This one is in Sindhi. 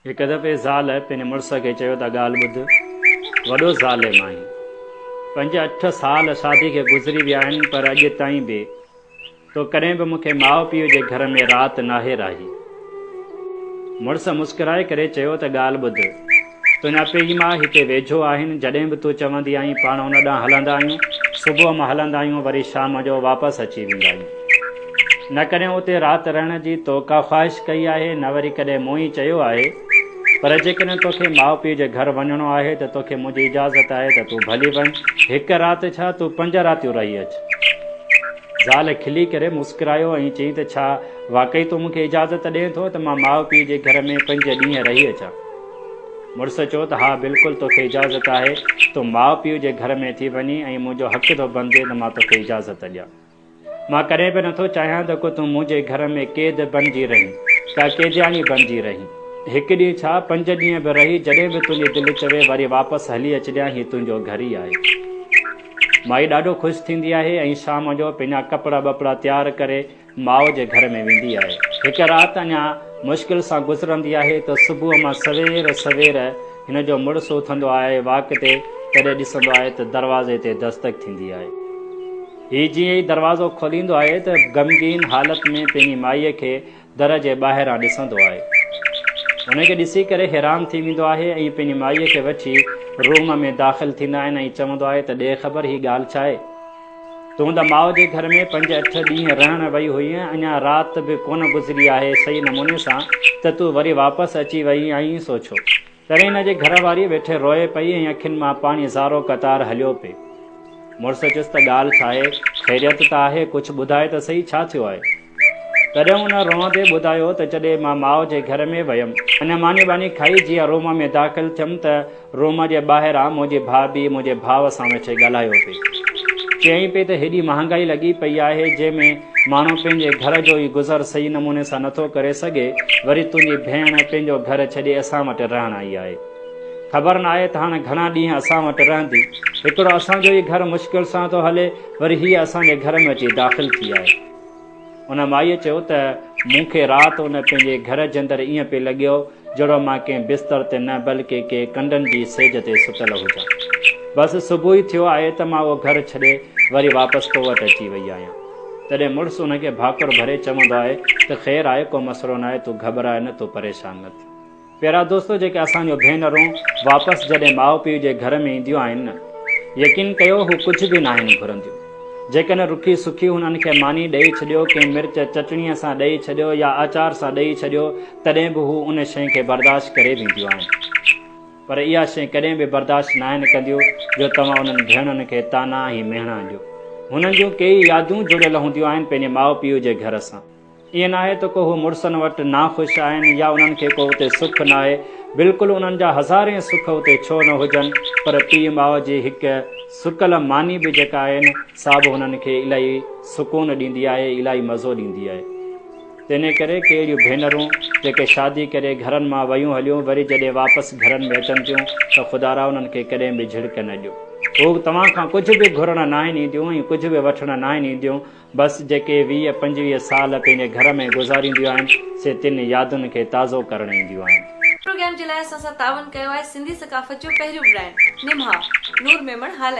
هڪ دفعي زال پنهنجي مڙس کي چيو ته ڳالهه ٻڌ، وڏو ظالم آهين. پنج اٺ سال شادي کي گذري ويا آهن پر اڄ تائين به تو ڪڏهن به مون کي ماء پيء جي گهر ۾ رات ناهي راهي. مڙس مسڪرائي ڪري چيو ته ڳالهه ٻڌ، تنهنجا پيء ماء هتي ويجهو آهن، جڏهن به تون چوندي آهين پاڻ ان ڏانهن هلندا آهيون، صبح مان هلندا آهيون وري شام جو واپس اچي ويندا آهيون. نه ڪڏهن اتي رات رهڻ جي تو ڪا خواهش ڪئي آهي نه وري ڪڏهن مون ئي چيو آهي. پر جيڪڏهن توکي ماء پيء جي گهر وڃڻو آهي ته توکي منهنجي اجازت آهي ته تون ڀلي وڃ. هڪ رات ڇا تون پنج راتيون رهي اچ. زال کلي ڪري مسڪرايو ۽ چيائين ته ڇا واقعي تون مون کي اجازت ڏئين ٿو ته مان ماء پيء جي گهر ۾ پنج ڏينهن رهي اچان. مڙس چيو ته ها بلڪل توکي اجازت آهي. تون ماء پيء جي گهر ۾ ٿي وڃين ۽ منهنجو حق ٿو بنجي ته مان توکي اجازت ڏيان. مان ڪڏهن به نٿو چاهيان ته ڪو تون منهنجي گهر ۾ قيد بڻجي رهين، ڪا قيدياڻي بڻجي رهين. هڪ ڏينهن ڇا، پنج ڏينهن به رهي، جڏهن به تنهنجي دل چوي وري واپس هلي اچجانء، هي تنهنجو گهر ئي آهي. مائي ڏاڍو خوش ٿيندي آهي ۽ شام جو پنهنجا ڪپڙا ٻپڙا تيار ڪري ماء جي گهر ۾ ويندي آهي. هڪ رات اڃا مشڪل سان گذرندي آهي ته صبح مان سوير سوير هن جو مڙس اٿندو آهي واڪ تي، تڏهن ڏسندو آهي ته دروازي تي دستڪ ٿيندي آهي. هي جيئن ئي دروازو کوليندو آهي ته غمگين حالت ۾ پنهنجي مائيء کي در جي ٻاهران ڏسندو آهي. انهيء کي ڏسي ڪري حيران ٿي ويندو آهي ۽ پنهنجي مائيء کي وٺي روم ۾ داخل ٿيندا آهن ۽ چوندو آهي ته ڏي خبر هي ڳالهه ڇا آهي؟ تون ته ماء جي گهر ۾ پنج اٺ ڏينهن رهڻ وئي هئينء، اڃا رات به ڪونه گذري آهي صحيح نموني سان ته تون وري واپس اچي وئي آهين، سو ڇو؟ تڏهن هن جي گهر واري ويٺي روئي پئي ۽ اکين مان پاڻي سارو قطار هليو پئي. مڙس چيس ته ڳالهه ڇا آهي؟ خيريت ته آهي؟ ڪجهه ٻڌاء ته سهي ڇا ٿيو آهي؟ تڏهن هن روئندي ٻڌايو ته جڏهن مان ماء جي گهر ۾ ويم. اڃا ماني واني کائي جيئن روم ۾ داخل ٿيم ته روم جي ٻاهران منهنجي ڀاڀي منهنجي ڀاء سان ويٺي ڳالهايو پئي. چيائين پئي ته هيڏي مهانگائي لڳي پئي آهي جنهن ۾ ماڻهو پنهنجي گهر جو ئي گذر صحيح نموني سان نٿو ڪري سگهي، وري تنهنجي ڀيڻ پنهنجو گهر ڇڏي اسان وٽ رهڻ آئي آهي. خبر ناهي ته هاڻ گهڻا ڏينهن اسان وٽ رهندي. هڪڙو اسان جو ئي گهر مشڪل سان ٿو هلي، وري هيء اسان جي گهر ۾ اچي داخل ٿي آهي. ان مائيء چيو ته مون کي رات ان پنهنجي گهر جي اندر ائين پئي لڳيو، جهڙو مان ڪنهن بستر تي نه بلڪه ڪي ڪنڊن جي سيج تي ستل هجان. بس صبح ئي ٿيو آهي ته مان اهو گهر ڇڏي وري واپس تو وٽ اچي وئي آهيان. تڏهن مڙس ان کي ڀاڪر ڀري چوندو آهي ته خير آهي ڪو مسئلو ناهي تون گهٻراء نه تون پريشان نه ٿي. پيارا دوستو جيڪي اسان جون ڀينرون واپس جڏهن ماء پيء جي گهر ۾ اينديون آهن نه يقين ڪيو هو ڪجهه به ناهن گهرنديون. جيڪڏهن رکي سکي هنن کي ماني ڏئي ڇڏيو، ڪنهن مرچ چٽڻيء سان ڏئي ڇڏيو يا آچار سان ڏئي ڇڏيو، تڏهن به هو ان شيء کي برداشت ڪري وينديون آهن. پر اها شيء ڪڏهن به برداشت ناهن ڪنديون جو توهان انهن ڀيڻن کي طعنا ۽ مهڻا ڏيو. هنن جون ڪيئي يادون جڙيل هونديون آهن پنهنجي ماء پيء جي گهر سان. ائين ناهي ته ڪو هو مڙسن وٽ ناخوش آهن يا انهن کي ڪو اتي سک ناهي، بلڪل انهن جا هزارين سک اتي ڇو نه هجن پر پيء ماء جي هڪ سڪل ماني به جيڪا آهي نه سا به هنن کي الاهي سڪون ڏيندي آهي، الاهي مزو ڏيندي آهي. تنهن ڪري ڪي اهڙيون ڀينرون جيڪي شادي ڪري گهرن مان ويون هليون وري جڏهن واپس گهرن ۾ اچن ٿيون ته خدارا انهن کي ڪڏهن به جهڙڪ نه ڏيو. هو توهان کان ڪجهه به گهرڻ ناهن اينديون ۽ ڪجهه به وٺڻ ناهن اينديون بس جيڪي ويهه پنجويهه سال پنهنجي گهر ۾ گذارينديون آهن سي تن يادن کي تازو ڪرڻ اينديون آهن. پروگرام جي لاء اسان سان تعاون ڪيو آهي سنڌي ثقافت جو پهريون برانڊ نمها نور ميمڻ هالائي.